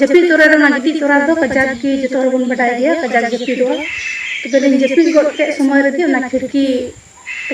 ᱡᱟᱹᱯᱤᱫ ᱛᱚᱨᱟ ᱨᱮ ᱚᱱᱟ ᱜᱤᱛᱤᱡ ᱛᱚᱨᱟ ᱨᱮᱫᱚ ᱠᱟᱡᱟᱠ ᱜᱮ ᱡᱚᱛᱚ ᱦᱚᱲ ᱵᱚᱱ ᱵᱟᱰᱟᱭ ᱜᱮᱭᱟ ᱠᱟᱡᱟᱠ ᱡᱟᱹᱯᱤᱫᱚᱜᱼᱟ ᱛᱚᱵᱮ ᱞᱤᱧ ᱡᱟᱹᱯᱤᱫ ᱜᱚᱫ ᱠᱮᱫ ᱥᱚᱢᱚᱭ ᱨᱮᱜᱮ ᱚᱱᱟ ᱠᱷᱤᱲᱠᱤ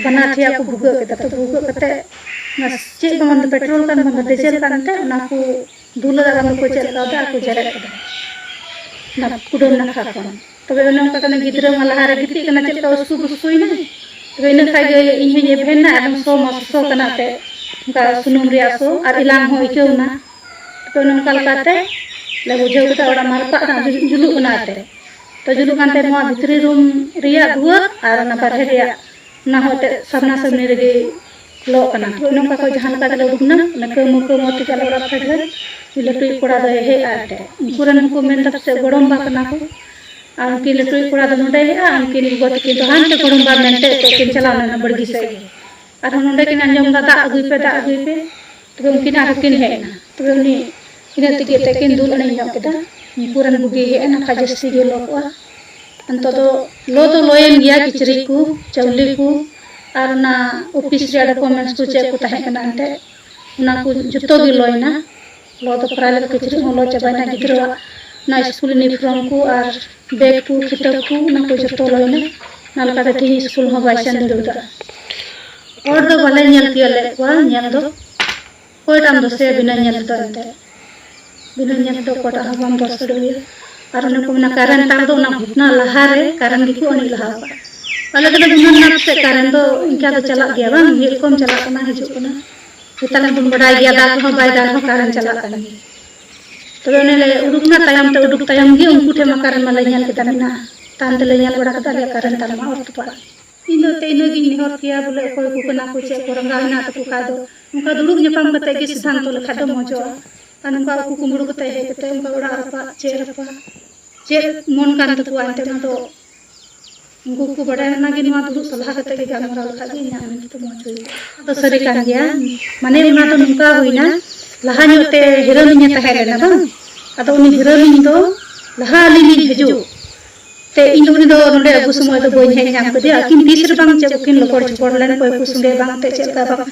ᱵᱟᱱᱟᱨ ᱴᱷᱮᱭᱟ ᱠᱚ ᱵᱷᱩᱜᱟᱹᱜ ᱠᱮᱫᱟ ᱛᱚ ᱵᱷᱩᱜᱟᱹᱜ ᱠᱟᱛᱮ ᱚᱱᱟ ᱪᱮᱫ ᱵᱟᱝ ᱫᱚ ᱯᱮᱴᱨᱳᱞ ᱠᱟᱱ ᱵᱟᱝ ᱫᱚ ᱰᱤᱡᱮᱞ ᱠᱟᱱ ᱛᱮ ᱚᱱᱟ ᱠᱚ ᱫᱩᱞᱟᱹ ᱵᱟᱝ ᱫᱚᱠᱚ ᱪᱮᱫ ᱞᱮᱠᱟ ᱫᱟᱜ ᱠᱚ ᱡᱮᱨᱮᱫ ᱠᱮᱫᱟ ᱚᱱᱟ ᱠᱩᱰᱟᱹᱢ ᱱᱟᱠᱷᱟ ᱠᱷᱚᱱ ᱛᱚᱵᱮ ᱚᱱᱮ ᱚᱱᱠᱟ ᱠᱟᱱᱟ ᱜᱤᱫᱽᱨᱟᱹ ᱢᱟ ᱞᱟᱦᱟᱨᱮ ᱜᱤᱛᱤᱡ ᱠᱟᱱᱟ ᱪᱮᱫ ᱞᱮᱠᱟ ᱩᱥᱠᱩ ᱵᱩᱥᱠᱩᱭᱮᱱᱟᱭ ᱛᱚᱵᱮ ᱤᱱᱟᱹ ᱠᱷᱟᱱ ᱜᱮ ᱤᱧ ᱦᱚᱧ ᱮᱵᱷᱮᱱᱟ ᱮᱠᱫᱚᱢ ᱥᱚ ᱢᱟ ᱥᱚ ᱠᱟᱱᱟ ᱛᱮ ᱚᱱᱠᱟ ᱥᱩᱱᱩᱢ ᱨᱮᱭᱟᱜ ᱥᱚ ᱟᱨ ᱮᱞᱟᱝ ᱦᱚᱸ ᱟᱹᱭᱠᱟᱹᱣᱱᱟ ᱛᱚ ᱚᱱᱮ ᱚᱱᱠᱟ ᱞᱮᱠᱟᱛᱮ ᱞᱮ ᱵᱩᱡᱷᱟᱹᱣ ᱠᱮᱫᱟ ᱚᱲᱟᱜ ᱢᱟ ᱨᱟᱯᱟᱜ ᱠᱟᱱᱟ ᱡᱩᱞᱩᱜ ᱠᱟᱱᱟ ᱛᱮ ᱛᱚ ᱡᱩᱞᱩᱜ ᱠᱟᱱ ᱛᱮ ᱱᱚᱣᱟ ᱵᱷᱤᱛᱨᱤ ᱨᱩᱢ ᱨᱮᱭᱟᱜ ᱫᱩᱣᱟᱹᱨ ᱟᱨ ᱚᱱᱟ ᱵᱟᱨᱦᱮ ᱨᱮᱭᱟᱜ ᱚᱱᱟ ᱦᱚᱸ ᱮᱱᱛᱮᱫ ᱥᱟᱢᱱᱟ ᱥᱟᱢᱱᱤ ᱨᱮᱜᱮ ᱞᱚᱜ ᱠᱟᱱᱟ ᱦᱳᱭ ᱱᱚᱝᱠᱟ ᱠᱚ ᱡᱟᱦᱟᱸ ᱞᱮᱠᱟ ᱛᱮᱞᱮ ᱩᱰᱩᱠᱱᱟ ᱚᱱᱟ ᱠᱟᱹᱢᱩ ᱠᱟᱹᱢᱩ ᱛᱮᱜᱮ ᱟᱞᱮ ᱚᱲᱟᱜ ᱯᱷᱮᱰ ᱨᱮ ᱞᱟᱹᱴᱩᱭᱤᱡ ᱠᱚᱲᱟ ᱫᱚᱭ ᱦᱮᱡ ᱟᱭ ᱴᱷᱮᱱ ᱩᱱᱠᱩ ᱨᱮᱱ ᱦᱚᱸᱠᱚ ᱢᱮᱱ ᱮᱫᱟ ᱯᱟᱥᱮᱡ ᱜᱚᱲᱚᱢ ᱵᱟ ᱠᱟᱱᱟ ᱠᱚ ᱟᱨ ᱩᱱᱠᱤᱱ ᱞᱟᱹᱴᱩᱭᱤᱡ ᱠᱚᱲᱟ ᱫᱚ ᱱᱚᱰᱮ ᱦᱮᱡ ᱟᱭ ᱩᱱᱠᱤᱱ ᱜᱚᱜᱚ ᱛᱟᱹᱠᱤᱱ ᱫᱚ ᱦᱟᱱᱛᱮ ᱜᱚᱲᱚᱢ ᱵᱟ ᱢᱮᱱᱛᱮ ᱮᱱᱛᱮᱫ ᱠᱤᱱ ᱪᱟᱞᱟᱣ ᱞᱮᱱᱟ ᱵᱟᱲᱜᱮ ᱥᱮᱫ ᱜᱮ ᱟᱨᱦᱚᱸ ᱱᱚᱰᱮ ᱠᱤᱱ ᱟᱸᱡᱚᱢ ᱮᱫᱟ ᱫᱟᱜ ᱟᱹᱜᱩᱭ ᱯᱮ ᱫᱟᱜ ᱟᱹᱜᱩᱭ ᱯᱮ ᱛᱚᱵᱮ ᱩᱱᱠᱤᱱ ᱟᱨᱦᱚᱸ ᱠᱤᱱ ᱦᱮᱡ ᱮᱱᱟ ᱛᱚᱵᱮ ᱩᱱᱤ ᱤᱱᱟᱹ ᱛᱮᱜᱮ ᱮᱱᱛᱮᱫ ᱠᱤᱱ ᱫᱩᱞ ᱟᱹᱬᱤᱧ ᱧᱚᱜ ᱠᱮᱫᱟ ᱩᱱᱠᱩ ᱨᱮᱱ ᱵᱩᱜᱤ ᱦᱮᱡ ᱮᱱᱟ ᱠᱷᱟᱡ ᱡᱟᱹᱥᱛᱤ ᱜᱮ ᱞᱚ ᱠᱚᱜᱼᱟ ᱱᱤᱛᱚᱜ ᱫᱚ ᱞᱚ ᱫᱚ ᱞᱚᱭᱮᱱ ᱜᱮᱭᱟ ᱠᱤᱪᱨᱤᱡ ᱠᱚ ᱪᱟᱣᱞᱮ ᱠᱚ ᱟᱨ ᱚᱱᱟ ᱚᱯᱷᱤᱥ ᱨᱮᱭᱟᱜ ᱰᱚᱠᱩᱢᱮᱱᱴᱥ ᱠᱚ ᱪᱮᱫ ᱠᱚ ᱛᱟᱦᱮᱸ ᱠᱟᱱᱟ ᱮᱱᱛᱮᱫ ᱚᱱᱟ ᱠᱚ ᱡᱚᱛᱚ ᱜᱮ ᱞᱚᱭᱮᱱᱟ ᱞᱚ ᱫᱚ ᱯᱨᱟᱭ ᱞᱮᱠᱟ ᱠᱤᱪᱨᱤᱡ ᱦᱚᱸ ᱞᱚ ᱪᱟᱵᱟᱭᱮᱱᱟ ᱜᱤᱫᱽᱨᱟᱹᱣᱟᱜ ᱚᱱᱟ ᱥᱠᱩᱞ ᱤᱭᱩᱱᱤᱯᱷᱨᱚᱢ ᱠᱚ ᱟᱨ ᱵᱮᱜᱽ ᱠᱚ ᱠᱷᱤᱛᱟᱹᱵ ᱠᱚ ᱚᱱᱟ ᱠᱚ ᱡᱚᱛᱚ ᱞᱚᱭᱱᱟ ᱚᱱᱟ ᱞᱮᱠᱟᱛᱮ ᱛᱮᱦᱮᱧ ᱥᱠᱩᱞ ᱦᱚᱸ ᱵᱟᱭ ᱥᱮᱱ ᱫᱟᱲᱮ ᱠᱟᱫᱟ ᱦᱚᱲ ᱫᱚ ᱵᱟᱞᱮ ᱧᱮᱞ ᱛᱤᱭᱟᱹᱜ ᱞᱮᱫ ᱠᱚᱣᱟ ᱧᱮᱞ ᱫᱚ ᱚᱠᱚᱭᱴᱟᱜ ᱮᱢ ᱫᱚᱥᱮᱭᱟ ᱵᱤᱱᱟᱹ ᱧᱮᱞ ᱛᱮᱫᱚ ᱮᱱᱛᱮ ᱵᱤᱱᱟᱹ ᱧᱮᱞ ᱛᱮᱫᱚ ᱚᱠᱚᱭᱴᱟᱜ ᱦᱚᱸ ᱵᱟᱢ ᱫᱚᱥ ᱫᱟᱲᱮᱭᱟ ᱟᱨ ᱚᱱᱮ ᱠᱚ ᱢᱮᱱᱟ ᱠᱟᱨᱮᱱ ᱛᱟᱨ ᱫᱚ ᱚᱱᱟ ᱜᱷᱚᱴᱱᱟ ᱞᱟᱦᱟᱨᱮ ᱠᱟᱨᱮᱱ ᱜᱮᱠᱚ ᱟᱹᱬᱤᱡ ᱞᱟᱦᱟ ᱟᱠᱟᱫ ᱟᱞᱮ ᱫᱚᱞᱮ ᱜᱩᱱᱟᱹᱱ ᱞᱮᱱᱟ ᱯᱟᱥᱮᱡ ᱠᱟᱨᱮᱱ ᱫᱚ ᱤᱱᱠᱟ ᱫᱚ ᱪᱟᱞᱟᱜ ᱜᱮᱭᱟ ᱵᱟᱝ ᱢᱤᱫ ᱨᱚᱠᱚᱢ ᱪᱟᱞᱟᱜ ᱠᱟᱱᱟ ᱦᱤᱡᱩᱜ ᱠᱟᱱᱟ ᱱᱮᱛᱟᱨ ᱢᱟᱵᱚᱱ ᱵᱟᱰᱟᱭ ᱜᱮᱭᱟ ᱫᱟᱜ ᱨᱮᱦᱚᱸ ᱵᱟᱭ ᱫᱟᱜ ᱨᱮᱦᱚᱸ ᱠᱟᱨᱮᱱ ᱪᱟᱞᱟᱜ ᱠᱟᱱ ᱜᱮᱭᱟ ᱛᱚᱵᱮ ᱚᱱᱮ ᱞᱮ ᱩᱰᱩᱠᱱᱟ ᱛᱟᱭᱚᱢ ᱛᱮ ᱩᱰᱩᱠ ᱛᱟᱭᱚᱢ ᱜᱮ ᱩᱱᱠᱩ ᱴᱷᱮᱱ ᱢᱟᱠᱟᱨ ᱢᱟ ᱞᱮ ᱧᱮᱞ ᱠᱮᱫᱟ ᱢᱮᱱᱟᱜᱼᱟ ᱛᱟᱭᱚᱢ ᱛᱮᱞᱮ ᱧᱮᱞ ᱵᱟᱲᱟ ᱠᱮᱫᱟ ᱟᱞᱮᱭᱟᱜ ᱠᱟᱨᱮᱱ ᱛᱟᱨ ᱢᱟ ᱚᱨ ᱛᱚᱯᱟᱜ ᱤᱧ ᱫᱚ ᱛᱮ ᱤᱱᱟᱹ ᱜᱤᱧ ᱱᱮᱦᱚᱨ ᱠᱮᱭᱟ ᱵᱚᱞᱮ ᱚᱠᱚᱭ ᱠᱚ ᱠᱟᱱᱟ ᱠᱚ ᱪᱮᱫ ᱠᱚ ᱨᱟᱸᱜᱟᱣ ᱦᱮᱱᱟᱜ ᱛᱟᱠᱚ ᱠᱷᱟᱡ ᱫᱚ ᱚᱱᱠᱟ ᱫᱩᱲᱩᱵ ᱧᱟᱯᱟᱢ ᱠᱟᱛᱮ ᱜᱮ ᱥᱤᱫᱷᱟᱱᱛᱚ ᱞᱮᱠᱷᱟᱡ ᱫᱚ ᱢᱚᱡᱚᱜᱼᱟ ᱟᱨ ᱱᱚᱝᱠᱟ ᱩᱠᱩ ᱠᱩᱢᱵᱲᱩ ᱠᱟᱛᱮ ᱦᱮᱡ ᱠᱟᱛᱮ ᱚᱱᱠᱟ ᱚᱲᱟᱜ ᱨᱟᱯᱟᱜ ᱪᱮᱫ ᱨᱟᱯᱟᱜ ᱪᱮᱫ ᱢᱚᱱ ᱠᱟᱱ ᱛᱟᱠᱚᱣᱟ ᱮᱱᱛᱮ ᱚᱱᱟ ᱫᱚ ᱩᱱᱠᱩ ᱠᱚ ᱵᱟᱰᱟᱭ ᱞᱮᱱᱟ ᱜᱮ ᱱᱚᱣᱟ ᱫᱩᱲᱩᱵ ᱥᱟᱞᱦᱟ ᱠᱟᱛᱮ ᱜᱮ ᱜᱟᱞᱢᱟᱨᱟᱣ ᱞᱮᱠᱷᱟᱡ ᱜᱮ ᱤᱧᱟᱹᱜ ᱢᱮᱱ ᱛᱮᱫᱚ ᱢᱚᱡᱽ ᱦᱩᱭᱩᱜᱼᱟ ᱟᱫᱚ ᱥᱟᱹᱨᱤ ᱠᱟᱱ ᱜᱮᱭᱟ ᱢᱟᱱᱮ ᱚᱱᱟ ᱫᱚ ᱱᱚᱝᱠᱟ ᱦᱩᱭᱱᱟ ᱞᱟᱦᱟ ᱧᱚᱜ ᱛᱮ ᱦᱤᱨᱟᱹᱞᱤᱧᱮ ᱛᱟᱦᱮᱸ ᱞᱮᱱᱟ ᱵᱟᱝ ᱟᱫᱚ ᱩᱱᱤ ᱦᱤᱨᱟᱹᱞᱤᱧ ᱫᱚ ᱞᱟᱦᱟ ᱟᱹᱞᱤᱧ ᱞᱤᱧ ᱦᱤᱡᱩᱜ ᱛᱮ ᱤᱧ ᱩᱱᱤ ᱫᱚ ᱱᱚᱰᱮ ᱟᱹᱜᱩ ᱥᱚᱢᱚᱭ ᱫᱚ ᱵᱟᱹᱧ ᱦᱮᱡ ᱧᱟᱢ ᱠᱮᱫᱮᱭᱟ ᱟᱹᱠᱤᱱ ᱛᱤᱥ ᱨᱮ ᱵᱟᱝ ᱪᱮᱫ ᱠᱤᱱ ᱞᱚᱯᱚᱲ ᱪᱚᱯᱚᱲ ᱞᱮᱱ ᱚᱠᱚᱭ ᱠᱚ ᱥᱚᱸᱜᱮ ᱵᱟᱝ ᱛᱮ ᱪᱮᱫ ᱞᱮᱠᱟ ᱵᱟᱝ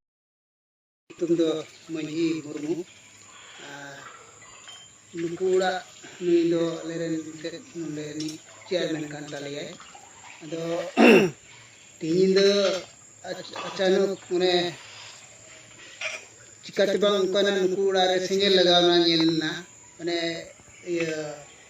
ᱧᱩᱛᱩᱢ ᱫᱚ ᱢᱟᱹᱡᱷᱤ ᱢᱩᱨᱢᱩ ᱟᱨ ᱱᱩᱠᱩ ᱚᱲᱟᱜ ᱱᱩᱭ ᱫᱚ ᱟᱞᱮᱨᱮᱱ ᱢᱤᱫᱴᱮᱡ ᱱᱚᱰᱮ ᱱᱤᱡ ᱪᱮᱭᱟᱨᱢᱮᱱ ᱠᱟᱱ ᱛᱟᱞᱮᱭᱟᱭ ᱟᱫᱚ ᱛᱮᱦᱮᱧ ᱧᱤᱫᱟᱹ ᱟᱪᱟᱱᱚᱠ ᱢᱟᱱᱮ ᱪᱤᱠᱟᱛᱮ ᱵᱟᱝ ᱚᱱᱠᱟᱱᱟᱜ ᱱᱩᱠᱩ ᱚᱲᱟᱜ ᱨᱮ ᱥᱮᱸᱜᱮᱞ ᱞᱟᱜᱟᱣᱱᱟ ᱧᱮᱞ ᱮᱱᱟ ᱢᱟᱱᱮ ᱤᱭᱟᱹ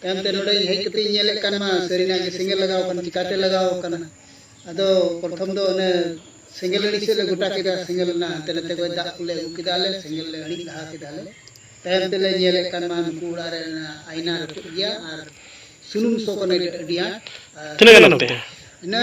ᱛᱟᱭᱚᱢ ᱛᱮ ᱱᱚᱰᱮ ᱦᱮᱡ ᱠᱟᱛᱮ ᱤᱧ ᱧᱮᱞᱮᱫ ᱠᱟᱱ ᱢᱟ ᱥᱟᱹᱨᱤᱱᱟᱜ ᱜᱮ ᱥᱮᱸᱜᱮᱞ ᱞᱟᱜᱟᱣ ᱟᱠᱟᱱᱟ ᱪᱤᱠᱟᱹᱛᱮ ᱞᱟᱜᱟᱣ ᱟᱠᱟᱱᱟ ᱟᱫᱚ ᱯᱨᱚᱛᱷᱚᱢ ᱫᱚ ᱚᱱᱮ ᱥᱮᱸᱜᱮᱞ ᱟᱹᱬᱤ ᱥᱮᱫ ᱞᱮ ᱜᱚᱴᱟ ᱠᱮᱫᱟ ᱥᱮᱸᱜᱮᱞ ᱨᱮᱱᱟᱜ ᱦᱟᱱᱛᱮ ᱱᱟᱛᱮ ᱠᱷᱚᱱ ᱫᱟᱜ ᱠᱚᱞᱮ ᱟᱹᱜᱩ ᱠᱮᱫᱟ ᱞᱮ ᱥᱮᱸᱜᱮᱞ ᱞᱮ ᱟᱹᱬᱤ ᱞᱟᱦᱟ ᱠᱮᱫᱟ ᱞᱮ ᱛᱟᱭᱚᱢ ᱛᱮᱞᱮ ᱧᱮᱞᱮᱫ ᱠᱟᱱ ᱢᱟ ᱱᱩᱠᱩ ᱚᱲᱟᱜ ᱨᱮ ᱟᱭᱱᱟ ᱨᱟᱹᱯᱩᱫ ᱜᱮᱭᱟ ᱟᱨ ᱥᱩᱱᱩᱢ ᱥᱚ ᱠᱟᱱᱟ ᱟᱹᱰᱤ ᱟᱸᱴ ᱛᱤᱱᱟᱹᱜ ᱜᱟᱱ ᱚᱠᱛᱮ ᱤᱱᱟᱹ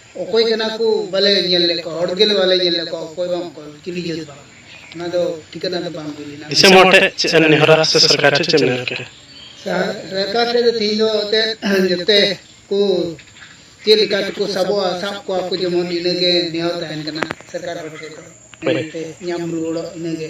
ᱚᱠᱚᱭ ᱠᱟᱱᱟ ᱠᱚ ᱵᱟᱞᱮ ᱧᱮᱞ ᱞᱮᱫ ᱠᱚᱣᱟ ᱦᱚᱲ ᱜᱮ ᱵᱟᱞᱮ ᱧᱮᱞ ᱞᱮᱫ ᱠᱚᱣᱟ ᱚᱠᱚᱭ ᱵᱟᱝ ᱚᱠᱚᱭ ᱪᱤᱞᱤ ᱡᱟᱹᱛ ᱵᱟᱝ ᱚᱱᱟ ᱫᱚ ᱴᱷᱤᱠᱟᱹᱱᱟ ᱫᱚ ᱵᱟᱝ ᱦᱩᱭ ᱞᱮᱱᱟ ᱫᱤᱥᱚᱢ ᱦᱚᱲ ᱴᱷᱮᱱ ᱪᱮᱫ ᱮᱢ ᱱᱮᱦᱚᱨᱟ ᱥᱮ ᱥᱚᱨᱠᱟᱨ ᱴᱷᱮᱱ ᱪᱮᱫ ᱮᱢ ᱱᱮᱦᱚᱨ ᱠᱮᱫᱟ ᱥᱚᱨᱠᱟᱨ ᱴᱷᱮᱱ ᱫᱚ ᱛᱮᱦᱮᱧ ᱫᱚ ᱮᱱᱛᱮᱫ ᱡᱚᱛᱚ ᱠᱚ ᱪᱮᱫ ᱞᱮᱠᱟ ᱛᱮᱠᱚ ᱥᱟᱵᱚᱜᱼᱟ ᱥᱟᱵ ᱠᱚᱣᱟ ᱠᱚ ᱡᱮᱢᱚᱱ ᱤᱱᱟᱹᱜᱮ ᱱᱮᱦᱚᱨ ᱛᱟᱦᱮᱱ ᱠᱟᱱᱟ ᱥᱚᱨᱠᱟᱨ ᱦᱚᱲ ᱴᱷᱮᱱ ᱫᱚ ᱧᱟᱢ ᱨᱩᱣᱟᱹᱲᱚᱜ ᱤᱱᱟᱹᱜᱮ